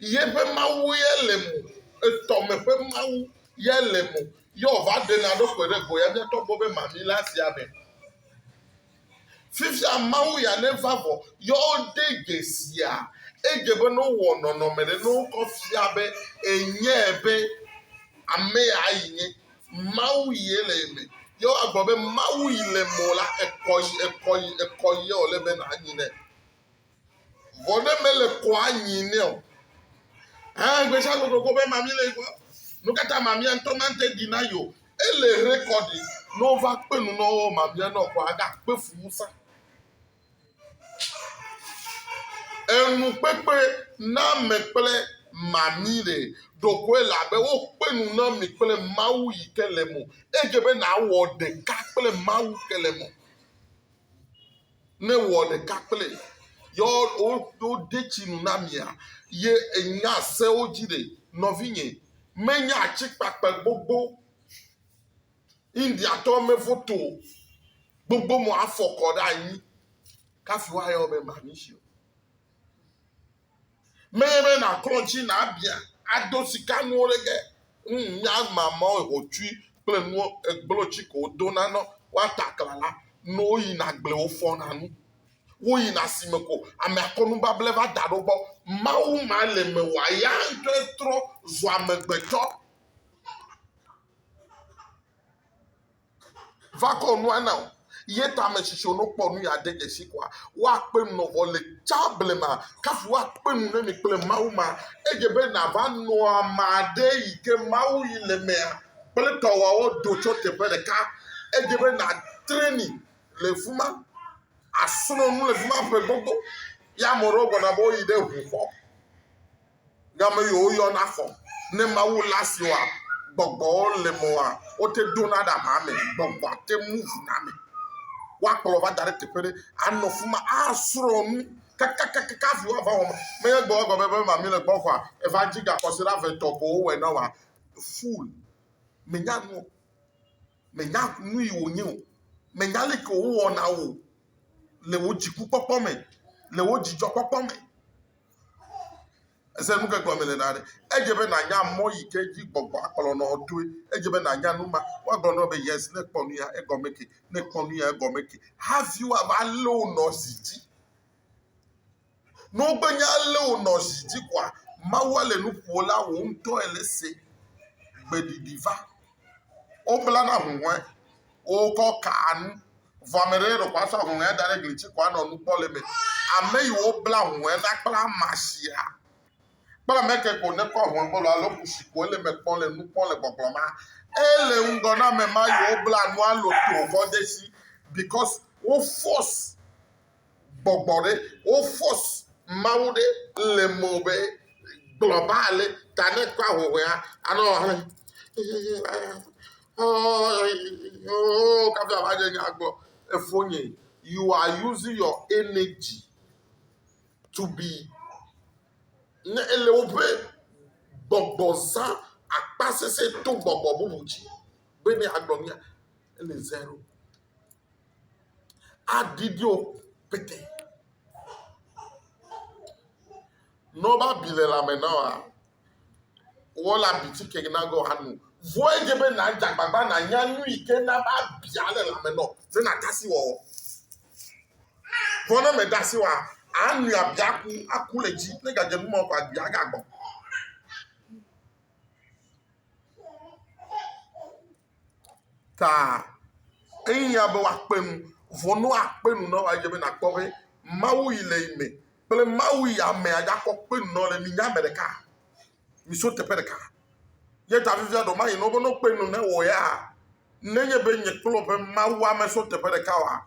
Yeƒe Mawu ye le mo, etɔ me ƒe Mawu ye le mo, ye wòva ɖena ɖo ƒo ɖe go ya mía tɔ gbɔ be mami le asia me. Fifia Mawu ya neva vɔ, ye wode dzesia, edze be ne wowɔ nɔnɔme ɖe, ne wokɔ fia be enye be ame ya yi nye, Mawu ye le ye me, ye woagblɔ be Mawu yi le mo la, ekɔ yi, ekɔ yi, ekɔ yi ye wòle be nànyi nɛ. Vɔ ne mele kɔa anyi nɛ o. Hã gbesha gbogbo ko be mami le gbɔ. Nu kata mami antɔ mante di na yo. Ele rekɔdi. No va kpe nu no mami anɔ kɔ aga kpe fumu sa. Enu kpekpe na me kple mami le ɖokoe la be wo kpe nu na mi kple mawu yi ke le mo. Edze be na wɔ ɖeka kple mawu ke le mo. ne wɔ ɖeka kple yɔ wo de tsi nu na mia ye enya sewo dzi ɖe nɔvinye menya atsikpakpe gbogbo india tɔ me foto gbogbo mo afɔkɔ ɖe anyi kafi wa yɔ be mami si o Menye be nàklɔ dzi nàbiã ado sikanuwo ɖe ke. Ŋ nya ma mɔ hotsui kple nu egblo tsi ko wodona ne woata aklala. Ne woyina gble wofɔna nu. Woyina asime ko amea kɔ nubable va da ɖo gbɔ. Mawu ma le mewɔa ya ŋutɔe trɔ zua amegbetɔ. va kɔ nua na wò ye ta ame tsitsiwo ne wokpɔ nu yeade dzesi koa, woakpe nu nɔ vɔ le tsã blema kafu woakpe nu ne mi kple Mawu ma. Edze be nàva nɔ ame aɖe yi ke Mawu yi le emea kple tɔ woawo do tso teƒe ɖeka. Edze be nàtrɛni le fi ma, àsrɔ̃ nu le fi ma ƒe gbogbo. Ye ame aɖewo gblɔna be woyi ɖe ŋu xɔ. Game yo woyɔ na xɔ ne Mawu la si wa gbɔgbɔwo le mɔ wa wote do na ɖa ma me. Gbɔgbɔa te mu ŋu na me. Wa kplɔ va da ɖe teƒe ɖe a nɔ fuma a srɔ nu kakakakaka afi wa va wɔ ma. Me ye gbɔ egɔme be ma mi le gbɔ xɔa eva dzi ga kɔsi ɖa ve tɔ ko wo wɛ na wa. Fool. Me nya nu o. Me nya nu yi wo nye o. Me nya le ke wo wɔ na wo le wo dzi ku kpɔkpɔ me, le wo dzi djɔ kpɔkpɔ me. Ese nu ke gɔme le na ɖe? Edze be nànya mɔ yi ke dzi gbɔgbɔa kplɔnɔ wò toe. Edze be nànya nu ma. Woagblɔ na wò be yes, ne èkpɔ nu ya egɔme ke, ne èkpɔ nu ya egɔme ke hafi woava lé wò nɔ zi dzi. Ne wogbenye alé wò nɔ zi dzi koa, Mawua le nu ƒo la wò ŋutɔ èle ese gbeɖiɖi va. Woblana ahuhɔ̃e, wokɔ kaa nu, vɔ ame ɖe ɖeko asɔ ahuhɔ̃ea da ɖe gli ŋuti ko anɔ nu kpɔm le eme. Ame yi wobla ahuhɔ̃e na kple ama sia kple ame ke ko nekɔ ahuhɔ̃ebɔlu alo kusi ko ele eme kpɔm le nu kpɔm le gbɔgblɔm ma, ele ŋgɔ na ame ma yi wobla nua lotoo kɔ de esi because wo force gbɔgbɔ ɖe wo fɔs Mawu ɖe le mɔ be gblɔ ba le ta ne kɔ ahɔhɔe ha anɔ hɔn oh kafi ava nye nya gbɔ efo nye you are using your energy to be ne ele woƒe gbɔgbɔ zã akpa sese to gbɔgbɔ bubu dzi be ne agblɔ nya ele zero aɖiɖi o pete. Ne wobe abi le lãme na woa, woalé abi ti ke na ge woano. Vɔa edze be nàdze agbagba nànya nu yi ke na be abia le lãme na wò ne nàde asi wɔwɔ. Vɔ ne mède asi wɔa, ànoe abia aku, aku le edzi. Ne ègadze nu ma o kɔ abia agagbɔ. taa. Ehiã be woakpe nu. Vɔ ne woakpe nu na wòa, edze be nàkpɔ be Mawu yi le yi me kple Mawu yi ame adzakpɔ kpe nu na wo le. Minye ame ɖeka. Miso teƒe ɖeka. Ye ta fifia ɖewo mayi na wo be ne wokpe nu na wò ya, nenye be nye kple wò ƒe Mawu ame so teƒe ɖeka oa,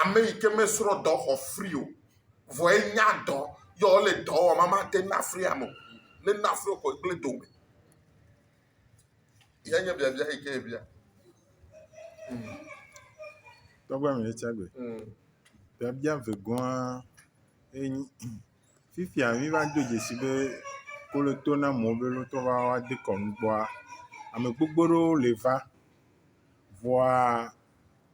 Ame yi ke mesrɔ̃ dɔ xɔ fri o, vɔ enya dɔ yɔ wole dɔ wɔm ame ate ŋu afri ame o. Ne nafri wo xɔ gble dome. Ye nye biabia yi ke ebia. Mm. Tɔgbe mi tsa gbe. Mm. Biabia vegɔa enyi fifia mi va do dzesi be kolo to na mo be lo to va wa de kɔnu gbɔa ame gbogbo ɖewo le va vɔa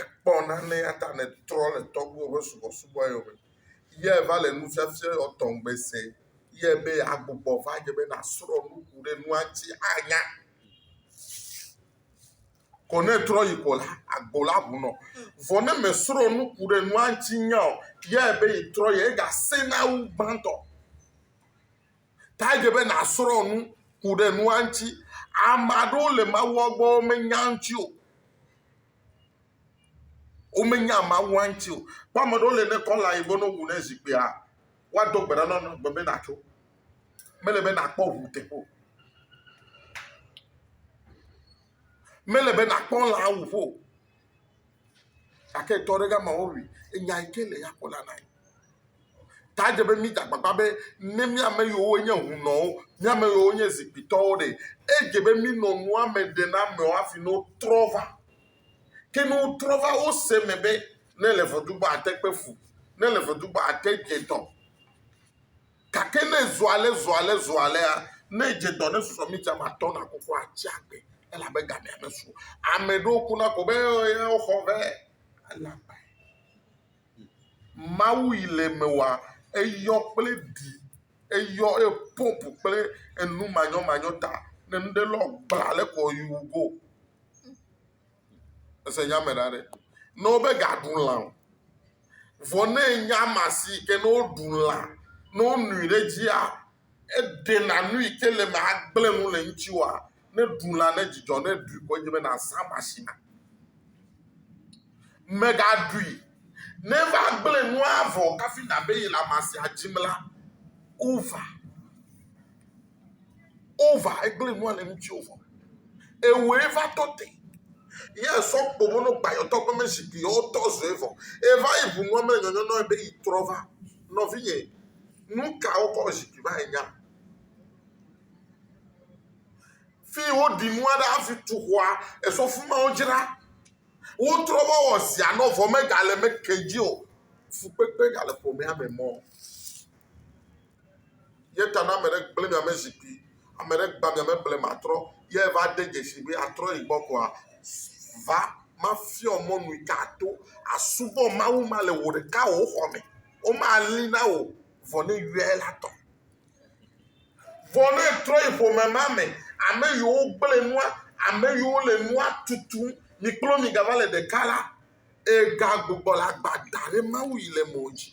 ekpɔ nane eya ta nètrɔ le tɔgbuiwo ƒe subɔsubɔ yome. Yɛ va le nufiafiae wɔ tɔ ŋgbe se yɛ be agbugbɔ va dze be nàsrɔ̃ nu ku ɖe nua ŋuti anya. Ko ne etrɔ yi ko la, agbo la ŋu nɔ. Vɔ ne mèsrɔ̃ nu ku ɖe nua ŋuti nya o, yɛ be yetrɔ yi, egasẽ na wu gbãtɔ. Ta dze be nàsrɔ̃ nu, ku ɖe nua ŋuti. Ame aɖewo le Mawua gbɔ womenya eŋuti o. Womenya Mawua ŋuti o. Kpɔ ame aɖewo le ne kɔla yi gbɔ ne wowu ne zikpuia, woado gbe ɖa na wo be natso. Mele be nàkpɔ ŋu teƒe o. Mele be nàkpɔ lã wuƒe o. gake tɔ ɖe gama wowui enya yi ke le ya kpɔ la nae. Ta dze be mí da gbagba be ne mía ame yiwo nye hunɔwo, mía ame yiwo nye zikpuitɔwo ɖe, edze be mínɔ nua me ɖe na amewo hafi ne wotrɔ va. Ke ne wotrɔ va wose eme be ne ele vɔ̃ do gbɔ ate kpe fu, ne ele vɔ̃ do gbɔ ate dze dɔ. Gake ne zɔ ale zɔ ale zɔ alea, ne edze dɔ ne susɔ mita me atɔ̃ na koko atsi agbe elabe gamea mesu o. Ame ɖewo kuna ko be ee woxɔ be ele agbae. Mawu yi le eme wɔa eyɔ kple ɖi eyɔ eye pɔmpu kple enu manyɔmanyɔ ta ne nu ɖe lɔ gbla le kɔ yi wu go. Ese nya me ɖa ɖe. Ne wobe gaɖu lã o. Vɔ ne enye ama si yi ke ne woɖu lã, ne wonui ɖe edzia, eɖena nu yi ke le eme agblẽ nu le eŋuti oa, ne ɖu lã ne dzidzɔ, ne ɖui ko edze be nàzã ama si na. Mègaɖui ne eva gblẽ nua vɔ hafi nàbe yi le ama sia dzim la, ova. Wova egblẽ nua le ŋutiwò vɔ. Ewɔe va tɔ te. Ye sɔ kpomo no gbayɔtɔ ƒe me zikpui yɔ tɔ zɔe vɔ. Eva yi bu nua me le nyɔnyɔ nɔe be yi trɔ va. Nɔvinye, nuka wokɔ zikpui va enya? Fi wo ɖi nua ɖe afi tu xɔa, esɔ fima wo dzra. Wo trɔ va wɔ zia nɔ vɔ me ga le me ke dzi o. Fukpekpe ga le ƒomea me mɔ. Ye ta ne ame ɖe gblẽ mia me zi kpui, ame ɖe gba mia me blema trɔ, ye va de dzesi be atrɔ yi gbɔ koa, va mafiɔ mɔ nui ka ato asubɔ Mawu ma le wò ɖeka wò xɔ me. Woma li na wò vɔ ne yɔe la tɔ. Vɔ ne etrɔ yi ƒome ma me, ame yiwo gblẽ nua, ame yiwo le nua tutum, mi kple wo mi ga va le ɖeka la, ega gbugbɔ le agba da ɖe Mawu yi le mɔ dzi.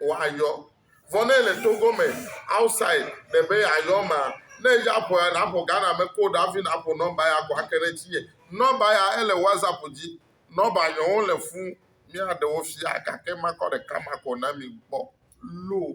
wòayɔ. Vɔ ne ele Togo me outside ɖe be yeayɔ mea, ne edze aƒoa naƒo Ghana me code hafi naƒo nɔmba ya ko ake ɖe etinye. Nɔmba ya ele WhatsApp dzi. Nɔmba nyɔwo le fũ míaɖe wo fia gake makɔ ɖeka ma ko na mi kpɔ loo.